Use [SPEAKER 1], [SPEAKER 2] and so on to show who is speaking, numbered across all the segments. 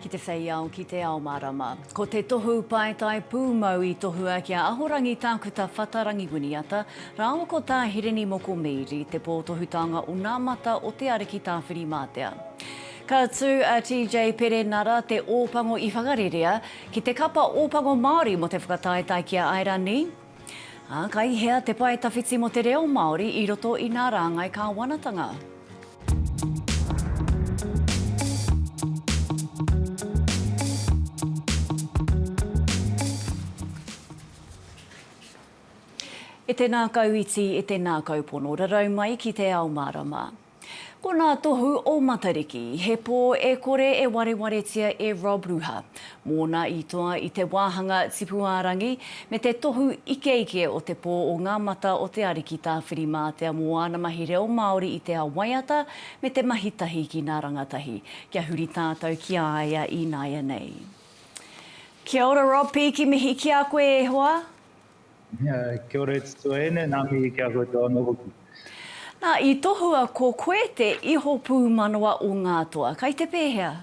[SPEAKER 1] ki te whei ao, ki te ao marama. Ko te tohu paetai pūmau i tohua ki a Ahorangi Tākuta Whata Rangiwiniata, rāua ko Tā Hirini Moko Meiri, te pōtohutanga o nā mata o te Ariki Tāwhirimātea. Ka tū a TJ Perenara te Ōpango i Whakarerea ki te kapa Ōpango Māori mō te whakataetae ki a Airani, Ā, ka i hea te pae tawhiti mō te reo Māori i roto i nā rāngai kāwanatanga? E tēnā kau iti, e tēnā kau pono, rarau mai ki te ao mārama. Ko nā Tohu o Matariki, he pō e kore e warewaretia e Rob Ruha, mōna i toa i te wāhanga tipu-ā-rangi me te tohu ikeike o te pō o Ngā Mata o Te Ariki Tāwhirimātea mō āna mahi reo Māori i te ao waiata me te mahi tahi ki nā rangatahi kia huri tātou ki a ia ināianei. Kia ora Rob, pīki mihi ki a koe e hoa.
[SPEAKER 2] Kia ora e te tuahine, nā mihi ki a koutou anō hoki. Nā, i
[SPEAKER 1] tohua ko koe te iho pūmanawa o ngā toa. Kai te pēhea?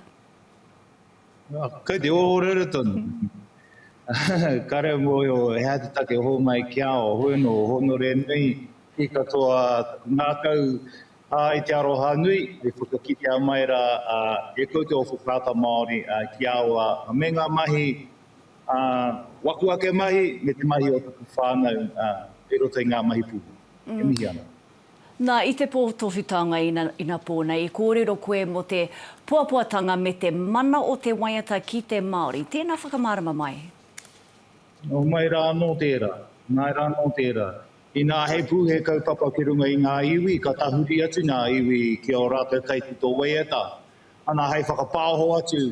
[SPEAKER 2] Kai te ōrere tonu. Ka reo mōhio he aha te take o hōmai ki a au, ahoi anō, hōnore nui ki katoa taku ngākau ā, i te aroha nui e whakakitea mai rā e koutou o Whakaata Māori ki a au ā, me ngā mahi Ā, waku ake mahi me te mahi o taku whānau kei roto i ngā mahi pūmau. E mihi ana. Nā, i te
[SPEAKER 1] pō tohutanga inapō nei, i kōrero koe mō te poapoatanga me te mana o te waiata ki te Māori. Tēnā whakamārama mai.
[SPEAKER 2] Homai rā anō tērā, homai rā anō tērā. Inā he pū, he kaupapa ki runga i ngā iwi, ka tahuri atu ngā iwi ki ō rātou kaitito waiata. Ana hei whakapāoho atu,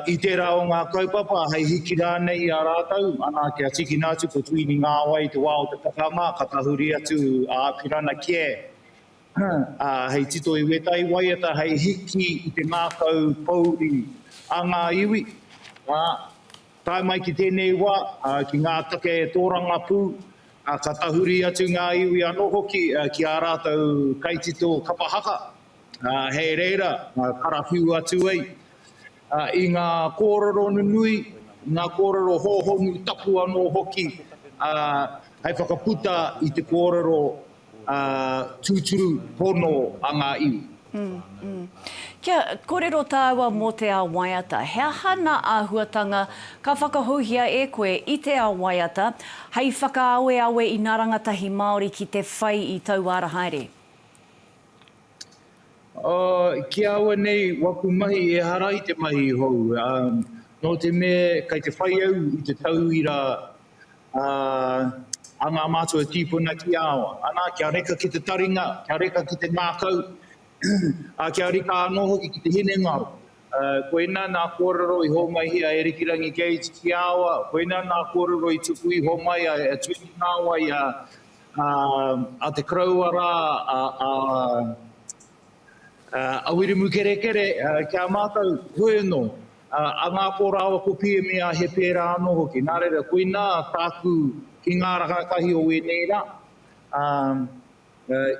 [SPEAKER 2] I tērā o ngā kaupapa, hei hiki rānei i a rātou, ana, kia tīkina atu ko Tuini Ngāwai i te wā o te pakanga, ka tahuri atu a Apirana Kē hei tito i wētahi waiata hei hiki i te ngākau pōuri a ngā iwi. Tae mai ki tēnei wā, ki ngā take tōrangapū, ka tahuri atu ngā iwi anō hoki ki ā rātou kaitito kapa haka, Ā, hei reira, karawhiu atu ai i ngā kōrero nunui, ngā kōrero hōhonu tapu anō hoki, ā, hei whakaputa i te kōrero tūturu pono a ngā iwi. Kia
[SPEAKER 1] kōrero tāua mō te ao waiata, he aha nā āhuatanga ka whakahouhia e koe i te ao waiata hei whakaaweawe i nā rangatahi Māori ki te whai i taua ara haere?
[SPEAKER 2] Ki aua nei waku mahi ehara i te mahi hou, nō te mea kei te whai au i te tauira a ngā mātua e tīpuna ki a au. Ana, kia reka ki te taringa, kia reka ki te ngākau, ā, kia reka anō hoki ki te hinengaro. Koinā nā kōrero i hōmaihia e Rikirangi Gates ki a au, koinā nā kōrero i tuku iho mai a Tuini Ngāwai A, a te koroua rā, a, a, a Wiremu Kerekere, ki a mātou, hoeno, a Ngāpō rāua ko Piemia he pērā anō hoki. Nā reira, koinā tāku ki ngā rangatahi o ēnei rā, a,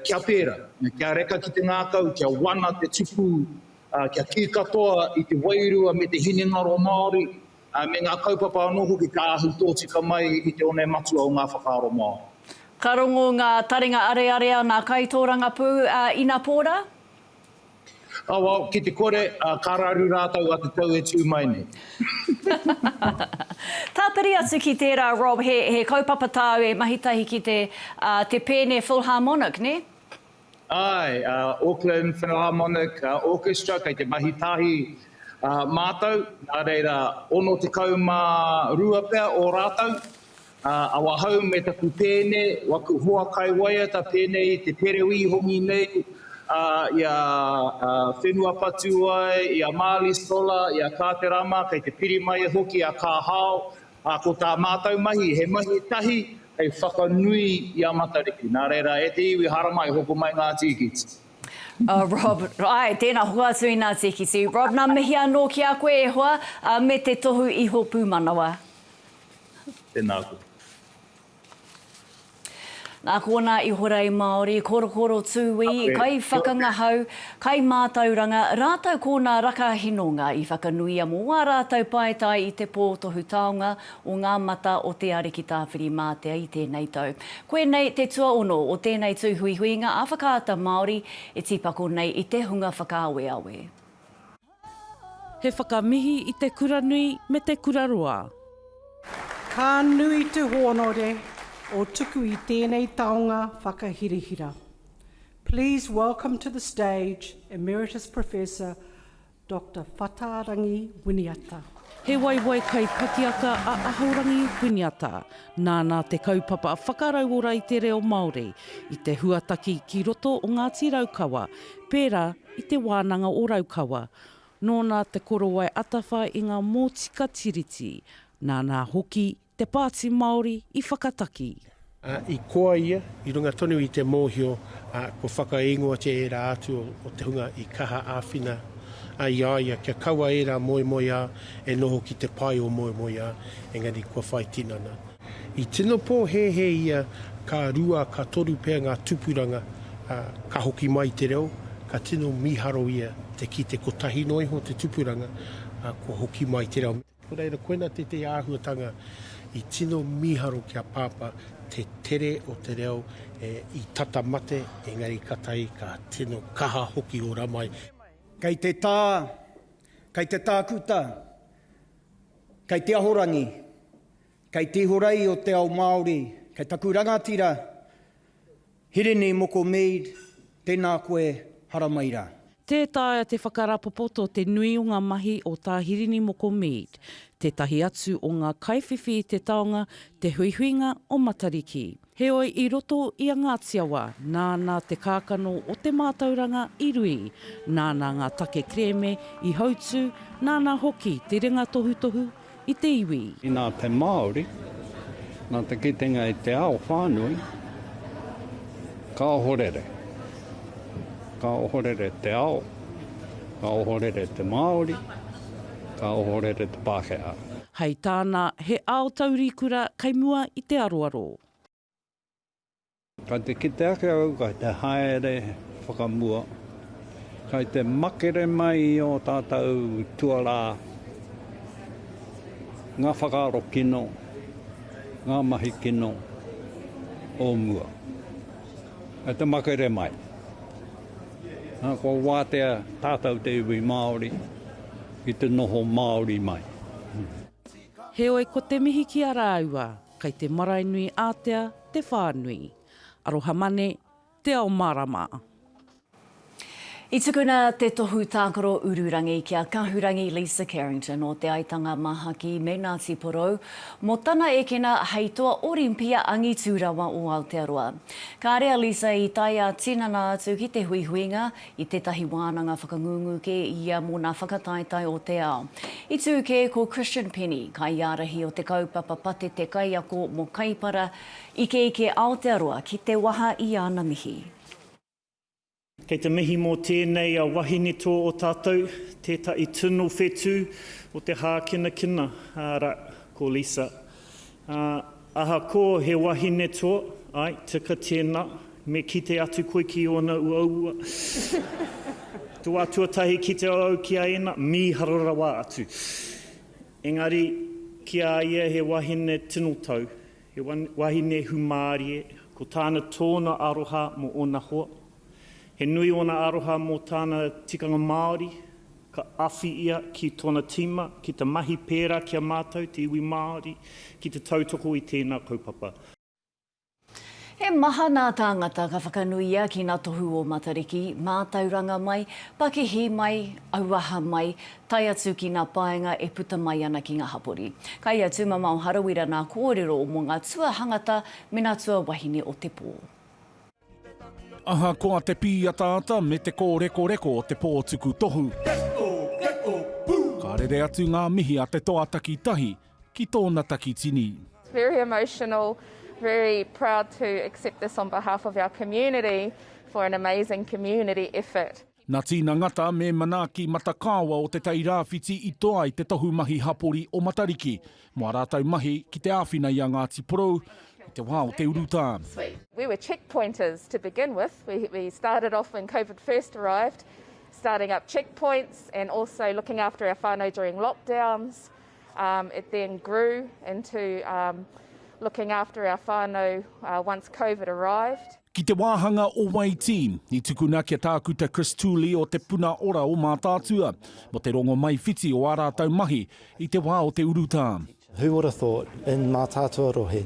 [SPEAKER 2] kia pērā, kia reka ki te ngākau, kia wana te tupu, a, kia kī katoa i te wairua me te hinengaro Māori, Me ngā kaupapa anō hoki ka ahu tōtika mai i te one matua o ngā whakaaro Māori. Ka rongo ngā
[SPEAKER 1] taringa areare a ngā kaitōrangapū a Inapōra.
[SPEAKER 2] Awau, ki te kore, ka raru rātou a te tau e tū mai nei.
[SPEAKER 1] Tāpiri atu ki tērā, Rob, he kaupapa tāu e mahi tahi ki te Pēne Philharmonic, nē? Āe,
[SPEAKER 2] a Auckland Philharmonic Orchestra, kei te mahi tahi mātou, nā reira, 62 pea o rātou, awahou me taku pēne, waku hoa kai waiata pēnei i te pereu i hongi nei i a Whenua Patuai, i a Marley Stolar, i a Kāterama, kei te piri mai e hoki a Kāhao, Ā, ko tā mātou mahi, he mahi tahi hei whakanui i a Matariki. Nā reira, e te iwi haramai, hoko mai ngā tīkiti. Ā, Rob,
[SPEAKER 1] Āe, tēnā, hoatu i nā tīkiti. Rob, Nā mihi anō ki a koe, e hoa, ā, me te tohu iho pūmanawa.
[SPEAKER 2] Tēnā koe.
[SPEAKER 1] Nā konā i horei Māori, korokoro tūī, kaiwhakangahau, kaimātauranga, rātou ko nā raka hinonga i whakanuia mō ā rātou paetae i te pō tohu taonga o ngā mata o Te Ariki Tāwhirimātea i tēnei tau. Koinei te tuaono o tēnei tūhuihuinga ā-whakaata Māori e tīpako nei i te hunga whakaaweawe.
[SPEAKER 3] He whakamihi i te kura nui me te kura roa. Ka
[SPEAKER 4] nui te honore o tuku i tēnei taonga whakahirahira. Please welcome to the stage Emeritus Professor Doctor Whatarangi Winiata. He waiwai
[SPEAKER 3] kai pakiaka a Ahorangi Winiata. Nāna te kaupapa whakarauora i te reo Māori, i te huataki ki roto o Ngāti Raukawa, pērā i Te Wānanga o Raukawa. Nōna te korowai atawha i ngā mōtika Tiriti, nāna hoki te Pāti Māori i whakataki. I koa
[SPEAKER 5] ia, i runga tonu i te mōhio kua whakaingoatia ērā atu o te hunga i kaha āwhina ai i a ia kia kaua ērā moemoeā E noho ki te pae o moemoeā, engari kua whai tinana. I tino pōhēhē ia ka rua, ka toru pea ngā tupuranga, ā, ka hoki mai te reo, ka tino mīharo ia te kite kotahi noa iho te tupuranga, ā, kua hoki mai te reo. Nō reira, koinā tētehi āhuatanga i tino mīharo ki a Pāpā, te tere o te reo i tata mate, engari ka tahi ka tino kaha hoki ora mai. Kei te tā.
[SPEAKER 6] Kei te tākuta, kei te ahorangi, kei te ihorei o te ao Māori, kei taku rangatira Hirini Moko Mead, tēnā koe, haramai rā. Tē taea
[SPEAKER 3] te whakarapopoto te nui o ngā mahi o Tā Hirini Moko Mead, tētahi atu o ngā kaiwhiwhi i te taonga, te huihuinga o Matariki. Heoi i roto i a Ngāti Awa, nāna te kākano o te mātauranga i rui, nāna ngā take kerēme i hautū, nāna hoki te ringa tohutohu i te iwi. Nā te Māori,
[SPEAKER 7] nā te kitenga i te ao whānui, ka ohorere. Ka ohorere te ao, ka ohorere te Māori. ka ohorere te Pākehā. Hei tāna,
[SPEAKER 3] he ao taurikura kei mua i te aroaro.
[SPEAKER 7] Kei te kite ake au kei te haere whakamua, kei te makere mai i ō tātou tuarā, ngā whakaaro kino, ngā mahi kino o mua. Kei te makere mai. Kua wātea tātou te iwi Māori ki te noho Māori mai.
[SPEAKER 3] Heoi ko te mihi ki a rāua, kei te marae nui ātea te whānui. Arohamane, Te Ao Mārama.
[SPEAKER 1] I tukuna te tohu tākaro ururangi ki a Kahurangi Lisa Carrington o Te Aitanga Mahaki me Ngāti Porou mō tana ekena hei toa Orimpia angitu rawa o Aotearoa. Kāre a Lisa i tae ā-tinana atu ki te huihuinga i tētahi wānanga whakangungu kē i ia mō nā whakataetae o te ao. I tū kē ko Christian Penny, kaiārahi o te kaupapa Patete Kaiako mō Kaipara, Ikeike Aotearoa ki te waha i ana mihi.
[SPEAKER 8] Kei te mihi mō tēnei a wahine tō o tātou, tētahi tino whetū o te hākinakina, arā, ko Lisa. Ā, ahakoa he wahine tō, āe, tika tēnā, me kite atu koe ki ōna uaua. Toa tuatahi ki te au ki a Ena, mīharo rawa atu. Engari, ki a ia he wahine tino tau, He wahine hūmārie, ko tāna tōna aroha mō ōna hoa. He nui ōna aroha mō tāna tikanga Māori, ka awhi ia ki tōna tīma ki te mahi pērā ki a mātou, te iwi Māori, ki te tautoko i tēnā kaupapa.
[SPEAKER 1] He maha ngā tāngata ka whakanuia ki ngā tohu o Matariki, mātauranga mai, pakihi mai, auaha mai, tae atu ki ngā paenga e puta mai ana ki ngā hapori. Kai i a Tūmamao Harawira ngā kōrero mō ngā tuahangata me ngā tuawahine o te pō.
[SPEAKER 9] Ahakoa te pīataata me te kōrekoreko o te pō tuku tohu, ka rere atu ngā mihi a te toa takitahi ki tōna takitini. Very
[SPEAKER 10] emotional, very proud to accept this on behalf of our community for an amazing community effort. Nā Tina Ngata
[SPEAKER 9] me Manaaki Matakaawa o Te Tai Rāwhiti i toa ai te tohu mahi hapori o Matariki mō ā rātou mahi ki te āwhina i a Ngāti Porou i te wā o te urutā. We were
[SPEAKER 10] checkpointers to begin with, we started off when Covid first arrived, starting up checkpoints and also looking after our whānau during lockdowns. Um, it then grew into um, looking after our whānau uh, once COVID arrived. Ki te wāhanga
[SPEAKER 9] o Waitī, i tukuna kia tākuta Chris Tooley o Te Puna Ora o Mātaatua, mo te rongo mai whiti o ā rātau mahi i te wā o te urutā. Who would have thought
[SPEAKER 11] in Mātaatua Rohe,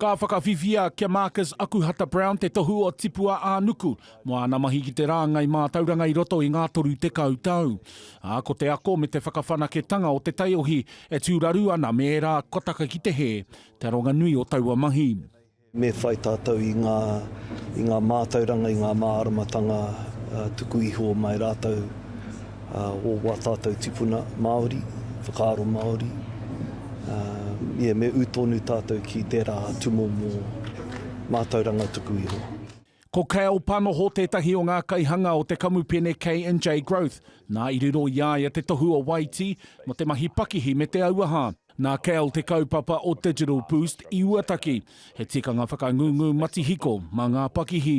[SPEAKER 11] Ka whakawhiwhia
[SPEAKER 9] ki a Marcus Akuhata-Brown te tohu o Tipua-ā-nuku mō āna mahi ki te rāngai mātauranga i roto i ngā 30 tau, ā, ko te ako me te whakawhanaketanga o te taiohi e tūraru ana me ērā kua taka ki te hē, te aronga nui o taua mahi. Me whai
[SPEAKER 12] tātou i ngā, i ngā mātauranga, i ngā māramatanga tuku iho mai rātou. ā, o wā tātou tipuna Māori, whakaaro Māori, ā, ia me ū tonu tātou ki tērā tūmomo mātauranga tuku iho. Ko Kale
[SPEAKER 9] Panoho tētahi o ngā kaihanga o te kamupene KNJ Growth, nā i riro i a ia te tohu o Waitī mō te mahi pakihi me te auaha. Nā Kale te kaupapa o Digital Boost i uataki, he tikanga whakangungu matihiko mā ngā pakihi.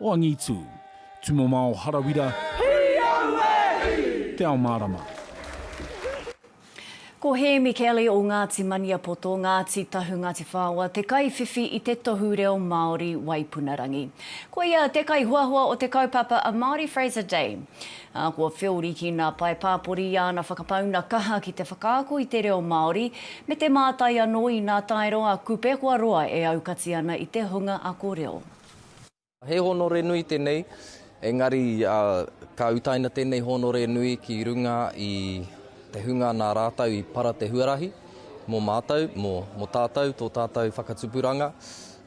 [SPEAKER 9] O Angitu. Tumomao Harawira. Hui au e! Te Ao Marama.
[SPEAKER 1] Ko Hēmi Kelly o Ngāti Maniapoto, Ngāti Tahu, Ngāti Whaoa, te kaiwhiwhi i te tohu reo Māori Waipunarangi. Ko ia te kaihoahoa o te kaupapa a Māori Fraser Day. Ā, kua whiori ki nā pae pāpori i āna whakapauna kaha ki te whakaako i te reo Māori, me te mātai anō inā taero a Kupe kua roa e aukati ana i te hunga ako reo. He
[SPEAKER 13] hōnore nui tēnei, engari ka utaina tēnei hōnore nui ki runga i te hunga nā rātou i para te huarahi mō mātou, mō tātou, tō tātou whakatupuranga,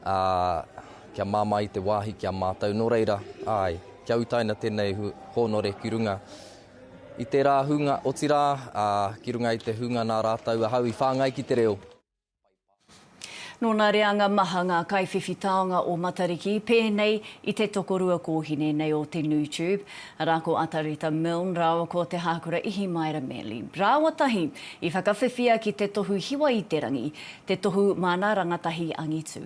[SPEAKER 13] ā, kia māmā i te wāhi ki a mātou. Nō reira, āe, kia utaina tēnei hōnore ki runga i tērā hunga, otirā, ā, ki runga i te hunga nā rātou ahau i whāngai ki te reo. Nō nā
[SPEAKER 1] reanga maha ngā kaiwhiwhi taonga o Matariki, pēnei i te tokorua kōhine nei o te Nu Tube, arā ko Atareta Milne rāua ko Te Hākura Ihimaera Manley rāua tahi i whakawhiwhia ki te tohu hiwa-i-te-rangi, te tohu māna rangatahi angitu.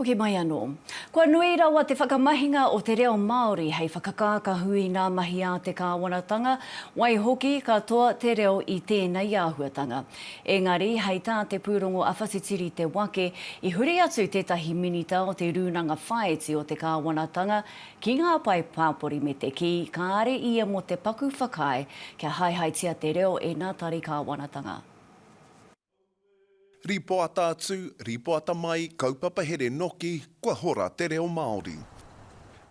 [SPEAKER 1] Hoki mai anō. Kua nui rawa te whakamahinga o te reo Māori hei whakakākahu i ngā mahi a te kāwanatanga, waihoki ka toa te reo i tēnei āhuatanga. Engari, hei tā te pūrongo a Whatitiri Te Wake, i huri atu tētahi minita o te Rūnanga Whāiti o te Kāwanatanga Ki ngā pae pāpori me te kī, kāre ia mō te paku whakaae kia haehaetia te reo e nā tari kāwanatanga.
[SPEAKER 14] Rīpoata atu, rīpoata mai, kaupapa here noki, kua hora te reo Māori.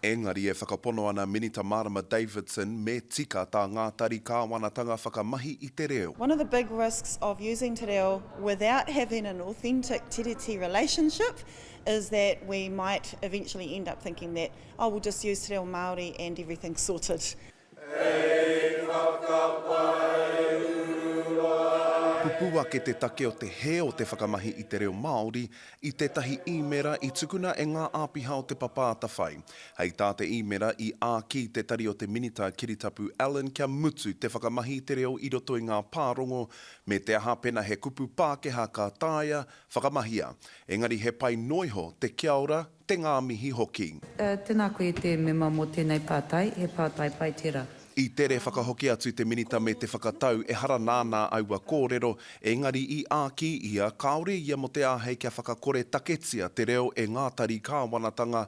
[SPEAKER 14] Engari e whakapono ana Minita Marama Davidson me tika tā ngā tari kāwanatanga whakamahi i te reo. One of the big risks
[SPEAKER 15] of using te reo without having an authentic tiriti relationship is that we might eventually end up thinking that, oh, we'll just use te reo Māori and everything's sorted.
[SPEAKER 14] Pupū ake te take o te hē o te whakamahi i te reo Māori i tētahi īmēra i tukuna e ngā āpiha o Te Papa Atawhai. Hei tā te īmēra, i āki te Tari o te Minita Kiritapu Allan kia mutu te whakamahi i te reo i roto i ngā pārongo, me te aha pēnā he kupu Pākehā ka taea Whakamahia, engari he pai noa iho te kia ora, te ngā mihi hoki. Tēnā koe te
[SPEAKER 16] mema mō tēnei pātai, he pātai pai tērā. I tere whakahoki
[SPEAKER 14] atu te Minita me te whakatau ehara nānā aua kōrero, engari i āki ia kāore ia mō te āhei kia whakakore taketia te reo e ngā tari kāwanatanga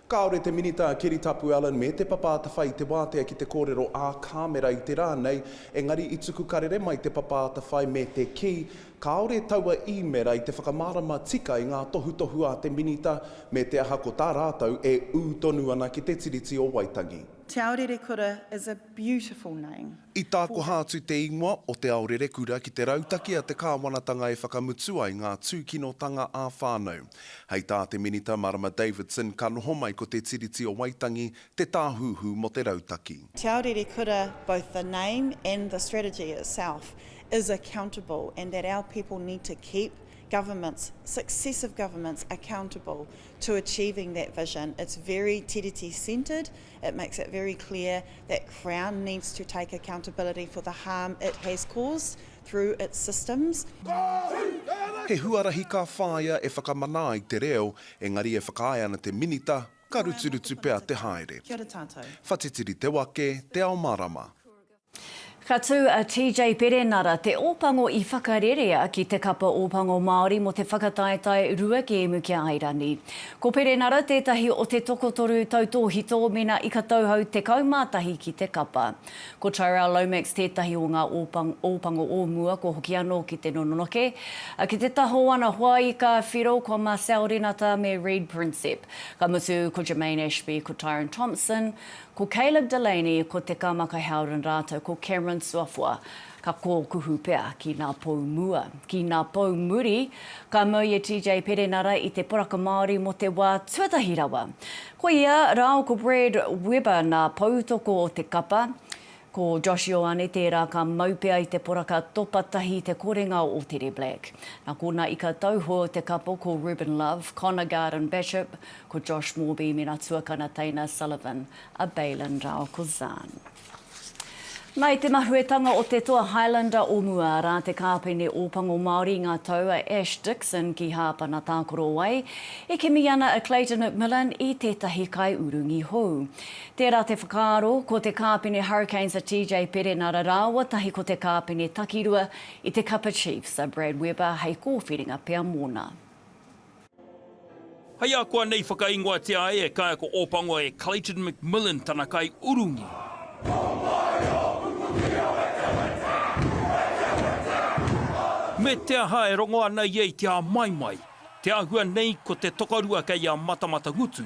[SPEAKER 15] Kāore te Minita
[SPEAKER 14] Keri Tapu Allan me Te Papa Atawhai i te wātea ki te kōrero ā Kāmera i te rā nei, engari i tuku karere mai Te Papa Atawhai me te kī, kāore taua īmera i te whakamārama tika i ngā tohutohu a te Minita, me te aha ko tā rātou e ū tonu ana ki te Tiriti o Waitangi. Te ao rerekura
[SPEAKER 15] is a. beautiful name. I tākoha atu
[SPEAKER 14] te ingoa o Te Ao Rerekura ki te rautaki a te kāwanatanga e whakamutu ai ngā tūkinotanga ā-whānau. Hei tā te Minita Marama Davidson ka noho mai ko Te Tiriti o Waitangi te tāhuhu mō te rautaki. Te Ao Rerekura,
[SPEAKER 15] both the name and the strategy itself is accountable and that our people need to keep governments, successive governments, accountable to achieving that vision. It's very Tiriti centred. It makes it very clear that Crown needs to take accountability for the harm it has caused through its systems.
[SPEAKER 14] He huarahi ka whāia e whakamana ai te reo, engari e whakaae ana te Minita, ka ruturutu pea te haere.
[SPEAKER 15] Whatitiri te wake,
[SPEAKER 14] te ao marama. Ka
[SPEAKER 1] tū a TJ Perenara, te Ōpango i whakarerea ki te Kapa Ōpango Māori mō te whakataetae rua kēmu ki a Airani. Ko Perenara tētahi o te tokotoru tautōhito mēnā i ka tauhou 11 ki te kapa. Ko Tyrell Lomax tētahi o ngā Ōpango o mua kua hoki anō ki te nononoke, ki te taha o ana hoa ika whiro ko Marcelle Renata me Reid Prinsep. Ka mutu ko Jermaine Ashby, ko Tyron Thompson, Ko Caleb Delaney, ko Te Kamaka Howden rātou ko Cameron Suafoa ka kōkuhu pea ki nā pou mua. Ki nā pou muri, ka mau i a TJ Perenara i te poraka Māori mō te wā tuatahi rawa. Ko ia rāo ko Brad Weber nā poutoko o te kapa, Ko Josh Ioane tērā ka mau pea i te poraka topa tahi te korenga o Teddy Black. Nā kōna ika tauho te kapo ko Reuben Love, Connor Garden Bachop, ko Josh Morbey me nā tuakana teina Sullivan a Bailyn rāua ko Zan. Nā, i te mahuetanga o te toa Highlander o mua, arā, te kāpene Ōpango Māori i ngā tau a Ash Dixon ki Hāpana Tākorowai, i kimi ana a Clayton McMillan i tētahi kaiurungi hou. Tērā te whakaaro, ko te kāpene Hurricanes a TJ Perenara rāua tahi ko te kāpene takirua i te Kapa Chiefs a Brad Weber hei kōwhiringa pea mōna.
[SPEAKER 17] Hei akuanei whakaingoatia ai e kaiako Ōpango e Clayton McMillan tana kai urungi. Me te aha e rongo ana ia i te āmaimai, te āhua nei ko te tokorua kei a Matamata Ngutu,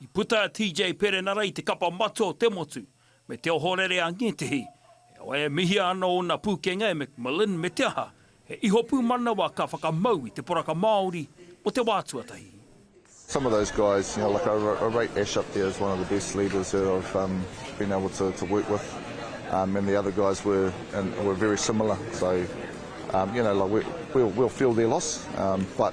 [SPEAKER 18] I puta a
[SPEAKER 17] TJ Perenara i te kapa matua o te motu, me te ohorere a ngētehi, he wai e mihia ana ōna pūkenga e McMillan me te aha, he ihopū manawa ka whakamau i te poraka Māori mō te wā tuatahi. Some of
[SPEAKER 18] those guys, you know, like I I rate Ash up there as one of the best leaders that I've um, been able to, to work with, um, and the other guys were and were very similar. So, um, you know, like we, we'll, we'll feel their loss, um, but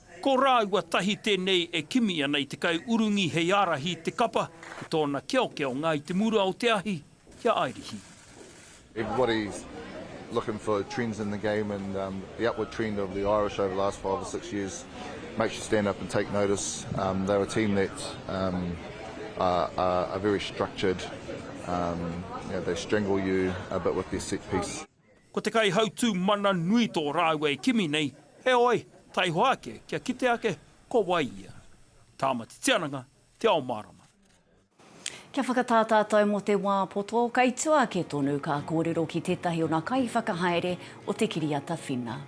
[SPEAKER 2] Ko rāua
[SPEAKER 17] tahi tēnei e kimi ana i te kai urungi hei ārahi i te kapa ki tōna keokeonga i te mura o te ahi ki a Airihi. Everybody's
[SPEAKER 18] looking for trends in the game and the upward trend of the Irish over the last five or six years makes you stand up and take notice. They're a team that are very structured, they strangle you a bit with their set piece. Ko te kaihautū
[SPEAKER 17] mana nui tō rāua e kimi nei, heoi, taihoa ake kia kite ake ko wai ia. Tāmati Tiananga, Te Ao Mārama.
[SPEAKER 1] Kia whakatā tātou mō te wā poto, kei tua ake tonu ka kōrero ki tētahi o nā kaiwhakahaere o te kiriata whina.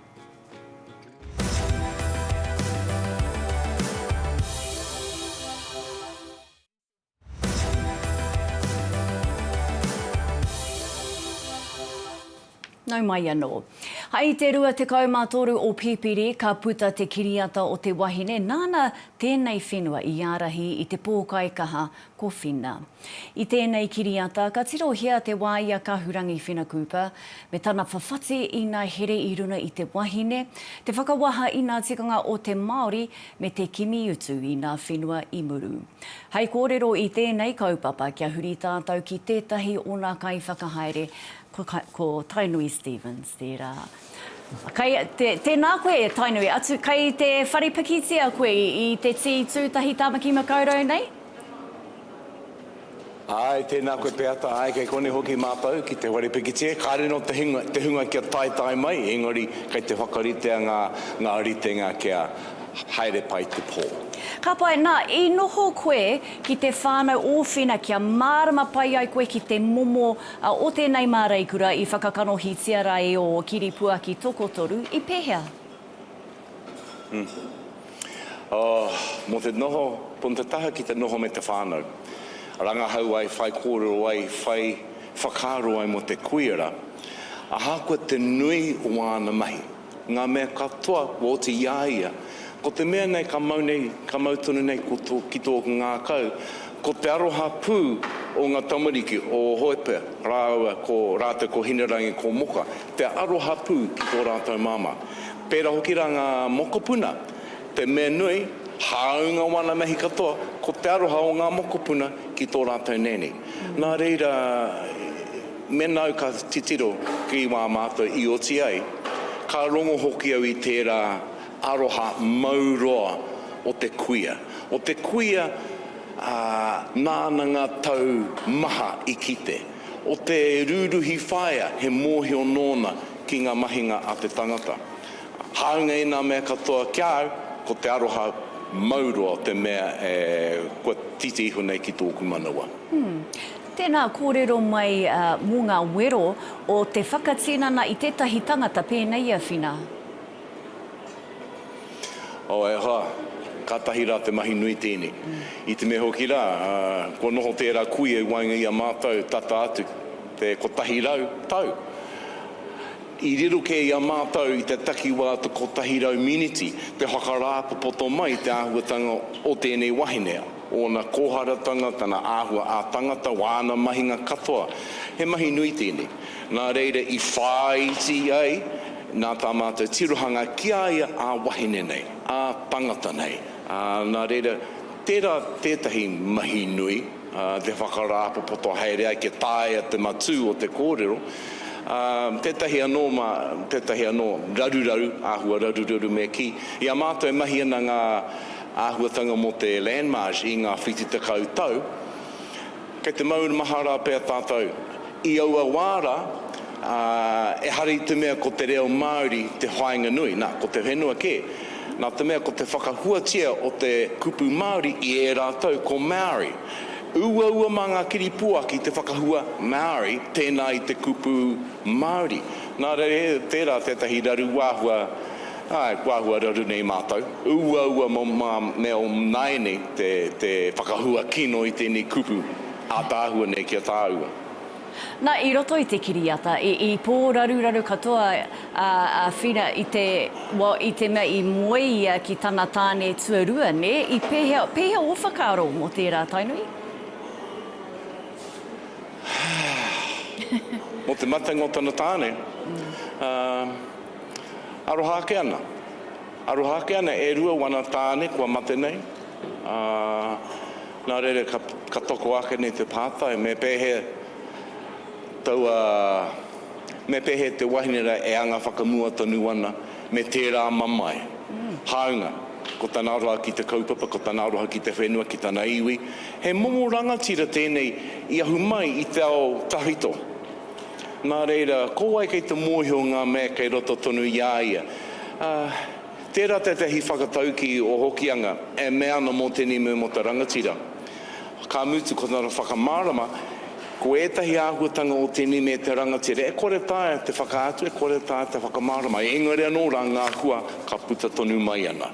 [SPEAKER 1] Nau mai anō. Hai te 23 o Pipiri ka puta te kiriata o te wahine nāna tēnei whenua i ārahi i te pōkai kaha ko Whina. I tēnei kiriata ka tirohia te wā i a Kahurangi Whina Cooper me tana whawhati ina here i runga i te wahine, te whakawaha ina tikanga o te Māori me te kimi utu i ngā whenua i muru. Hei kōrero i tēnei kaupapa kia huri tātou ki tētahi o ngā kaiwhakahaere, ko Tainui Stephens tērā. Kei, te, tēnā koe Tainui, atu kei te whare pikitia koe i te tī tūtahi Tāmaki Makaurau nei?
[SPEAKER 4] Āe, tēnā koe Peata, āe kei konei hoki mātou ki te whare pikitia, kāre nō te hunga, te hunga kia taetae mai, engari kei te whakaritea ngā, ngā ritenga kia haere pai te pō. Ka pai, nā,
[SPEAKER 1] i noho koe ki te whānau ōwhina kia mārama pai ai koe ki te momo o tēnei māreikura i whakakanohitia rā e ō kiripuaki tokotoru, i pēhea?
[SPEAKER 4] Mō te noho, pono te taha ki te noho me te whānau. Rangahau ai, whai kōrero ai, whai whakaaro ai mō te kuiara. Ahakoa te nui o āna mahi, ngā mea katoa kua oti i a ia, ko te mea nei ka mau nei, ka mau tonu nei ki tō ngākau, ko te aroha pū o ngā tamariki, o Hoepea rāua ko rātou ko Hinerangi, ko Moka. te aroha pū ki tō rātou māmā. Pērā hoki rā ngā mokopuna, te mea nui, hāunga wāna mahi katoa, ko te aroha o ngā mokopuna ki tō rātou nēni. Nā reira, mēnā au ka titiro ki wā mātou i oti ai, ka rongo hoki au i tērā aroha mau roa o te kuia. O te kuia, ā, nāna ngā tau maha i kite. O te rūruhi whaea he mōhio nōna ki ngā mahinga a te tangata. Hāunga ēnā mea katoa ki a au, ko te aroha mau roa te mea e kua titi iho nei ki tōku manawa. Hum. Tēnā
[SPEAKER 1] kōrero mai mō ngā wero o te whakatinana i tētahi tangata pēnei i a Whina.
[SPEAKER 4] Oh, e hoa, kātahi rā te mahi nui tēnei. I te mea hoki rā, kua noho tērā kuia i waenga i a mātou tata atu te kotahi rau tau. I riro kē i a mātou i te takiwā o te kotahi rau miniti te whakarāpopoto mai i te āhuatanga o tēnei wahine, ōna kōharatanga, tana āhua ā-tangata, wāna mahinga katoa. He mahi nui tēnei. Nā reira i whāiti ai nā tā mātou tirohanga ki a ia ā wahine nei, ā tangata nei, ā, nā reira, tērā tētahi mahi nui, ā, te whakarāpopoto haere ai kia taea te matū o te kōrero, ā, tētahi anō mā, tētahi anō raruraru, āhua raruraru me kī. I a mātou e mahi ana ngā āhuatanga mō te Landmarch i ngā whiti tekau tau, Kei te maumahara pea tātou. I aua wā rā, ā, ehara i te mea ko te reo Māori te whāinga nui, nā, ko te whenua kē. Nā te mea ko te whakahuatia o te kupu Māori i ērā tau ko Maori. Uaua mā ngā kiripua ki te whakahua Maori tēnā i te kupu Māori. Nā reira tērā tētahi raru āhua Āe, kua āhua raru nei mātou. Uaua mō ngā mea o nāianei nei te, te whakahua kino i tēnei kupu ātaahua nei ki a tāua.
[SPEAKER 1] Na, i roto i te kiriata, i, i pō raruraru katoa a, a Whina i te, well, i te mea i moe ia ki tana tāne tuarua, nē? I pēhea, pēhea ō whakaaro mō tērā, Tainui?
[SPEAKER 4] Mō te matenga o tana tāne, ā. Aroha ake ana. Aroha ake ana e rua wana tāne kua mate nei, ā, nā reira ka, ka toko ake nei te pātai, me pēhea taua, me pēhea te wahine rā e anga whakamua tonu ana me tērā mamae? Hāunga, ko tana aroha ki te kaupapa, ko tana aroha ki te whenua, ki tana iwi, he momo rangatira tēnei i ahu mai i te ao tahito, Nā reira, ko wai kei te mōhio ngā mea kei roto tonu i a ia? Ā, tērā tētahi whakataukī o Hokianga e mea ana mō tēnei moemata rangatira. Ka mutu, ko tana whakamārama, ko ētahi āhuatanga o tēnei mea te rangatira e kore taea te whakaatu, e kore taea te whakamārama, engari anō rā ngā hua ka puta tonu mai ana.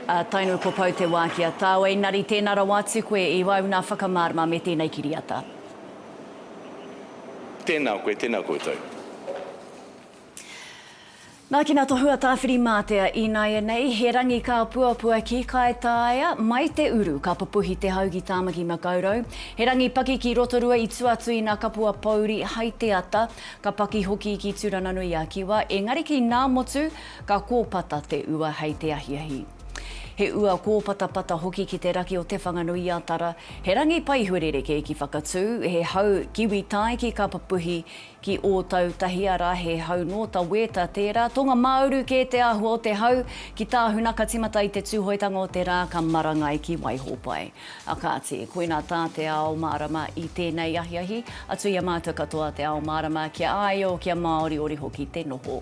[SPEAKER 1] Ā, tainui ko Pou te wā ki a tāu, engari tēnā rawa atu koe i wae ūnā whakamārama me tēnei kiriata.
[SPEAKER 4] Tēnā koe, tēnā koutou.
[SPEAKER 1] Nākina tohua Tāwhirimātea ināianei, he rangi kā puapua ki Kaitaia, mai te uru ka pupuhi te hau ki Tāmaki Makaurau. He rangi paki ki Rotorua i tua atu i nā kapua pōuri hai te ata, ka paki hoki ki Turananui-a-Kiwa, engari ki Nāmotu ka kōpata te ua hei te ahiahi. He ua kōpatapata hoki ki te raki o Te Whanganui-a-Tara, he rangi pai huarereke ki Whakatū, he hau kiwi tae ki Kapapuhi, ki Ōtautahi, arā, he hau nō Taweeta tērā. Tōngamauru kē te āhua o te hau ki Tāhuna ka timata i te Tūhoetanga o te rā ka marangai ki Waihōpai. A kāti, koinā tā te ao mārama i tēnei ahiahi, atu i a mātou katoa te ao mārama kia āio, kia māoriori hoki te noho.